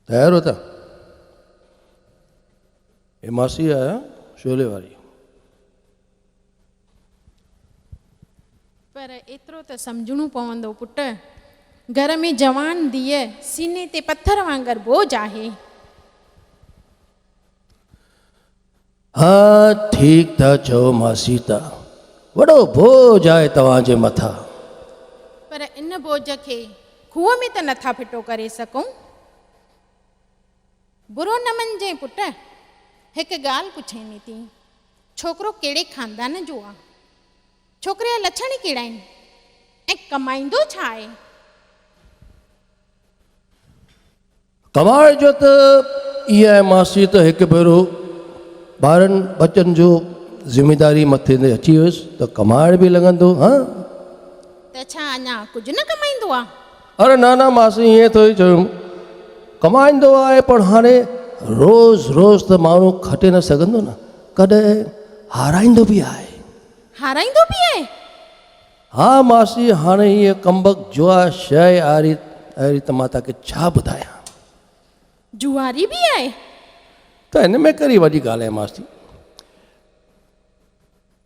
تيار هو ته اي ماسي آيا شولي واري پر ايترو ته سمجهڻو پوندو پٽ گهر ۾ جوان ڌيء سيني تي پٿر وانگر بوجھ آهي. ها ٺيڪ ٿا چئو مان سيتا، وڏو بوجھ آهي توهان جي مٿان. پر ان بوجھ کي کوهه ۾ ته نٿا ڦٽو ڪري سگهون. برونمن جي پٽ، هڪ ڳالهه پڇيني ٿي، ڇوڪرو ڪهڙي خاندان جو آ؟ ڇوڪري جا لڇڻ ئي ڪهڙا آهن؟ ۽ ڪمائيندو ڇا آهي؟ ڪمال جو ته ايئن آهي ماسي ته هڪ ڀيرو ٻارن ٻچن جو ذميداري مٿي تي اچي ويس ته ڪمال به لڳندو هان. ته ڇا اڃا ڪجهه نه ڪمائيندو آ؟ اري نه نه ماسي ايئن ٿوري چيم ڪمائيندو آهي پر هاڻي روز روز ته ماڻهو کٽي نه سگهندو نه ڪڏهن هارائيندو به آهي. هارائيندو به آهي؟ ها ماسي هاڻي هيء ڪمبخت جوا شيء آري آري ته مان توکي ڇا ٻڌايان. جواري به آهي؟ ته هن ۾ ڪهڙي وڏي ڳالهه آهي ماسي.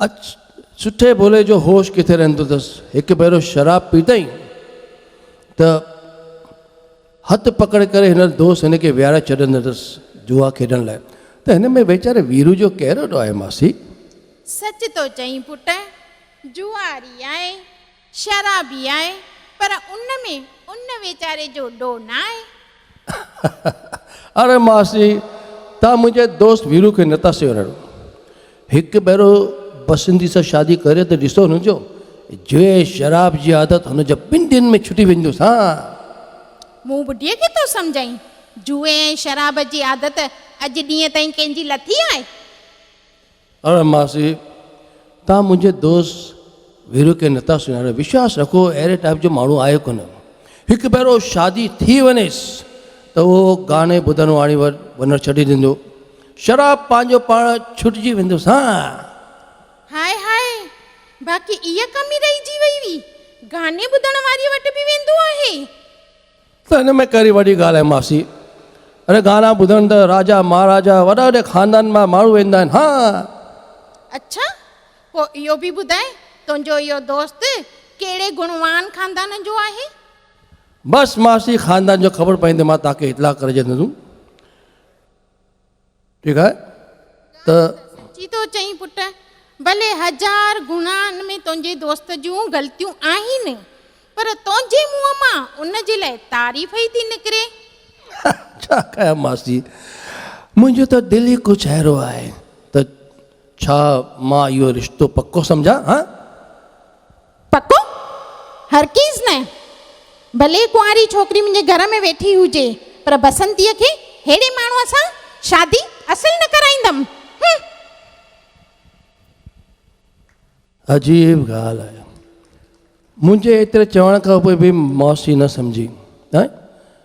اچ سٺي ڀولي جو هوش ڪٿي رهندو اٿس. هڪ ڀيرو شراب پيتائين ته هٿ پڪڙ ڪري هنر دوست هن کي ويهاري ڇڏندو اٿس جوا کيڏڻ لاء. ته هن ۾ ويچاري ويرو جو ڪهڙو ڏوهه آهي ماسي. سچ ٿو چئين پٽ. جواري آهي، شرابي آهي، پر ان ۾ ان ويچاري جو ڏو ناهي. اڙي ماسي، توهان منهنجي دوست ويرو کي نٿا سڃاڻو. هڪ ڀيرو بسنتي سان شادي ڪري ته ڏسو هن جو جوء ۽ شراب جي عادت هن جي ٻن ڏينهن ۾ ڇٽي ويندس ها. مون ٻڍي کي ٿو سمجهائين، جوء ۽ شراب جي عادت اڄ ڏينهن تائين ڪنهن جي لٿي آهي؟ اڙ ماسي توهان منهنجي دوست ويرو کي نٿا سڃاڻو وشواس رکو اهڙي ٽائيپ جو ماڻهو آهي ڪونه هڪ ڀيرو شادي ٿي وڃيس ته اهو گاني ٻڌڻ واڻي وٽ وڃڻ ڇڏي ڏيندو شراب پنهنجو پاڻ ڇٽجي ويندس ها هاء هاء باقي اها ڪمي رهجي وئي هئي گاني ٻڌڻ واري وٽ به ويندو آهي. ته ان ۾ ڪهڙي وڏي ڳالهه آهي ماسي. اڙي گانا ٻڌڻ ته راجا مهاراجا وڏا وڏي خاندانن مان ماڻهو ويندا آهن ها. اڇا پوء اهو به ٻڌاء تنهنجو اهو دوست ڪهڙي گڻوان خاندان جو آهي. بس ماسي خاندان جو خبر پوندي مان توهان کي اطلاع ڪري ڇڏيندس. ٺيڪ آهي ته. سچيتو چئين پٽ! ڀلي هزار گهڻا ان ۾ تنهنجي دوست جون غلطيون آهن، پر تنهنجي منهن مان ان جي لاء تعريف ئي ٿي نڪري. ڇا ڪيان ماسي! منهنجو ته دل ئي ڪجهه اهڙو آهي ته ڇا مان اهو رشتو پڪو سمجهان هان؟ پڪو؟ هرگز نه! ڀلي ڪنواري ڇوڪري منهنجي گهر ۾ ويٺي هجي، پر بسنتيء کي ههڙي ماڻهوء سان شادي اصل نه ڪرائيندم. هنم! عجيب ڳالهه آهي، منهنجي ايتري چوڻ کان پوء به ماسي نه سمجهي.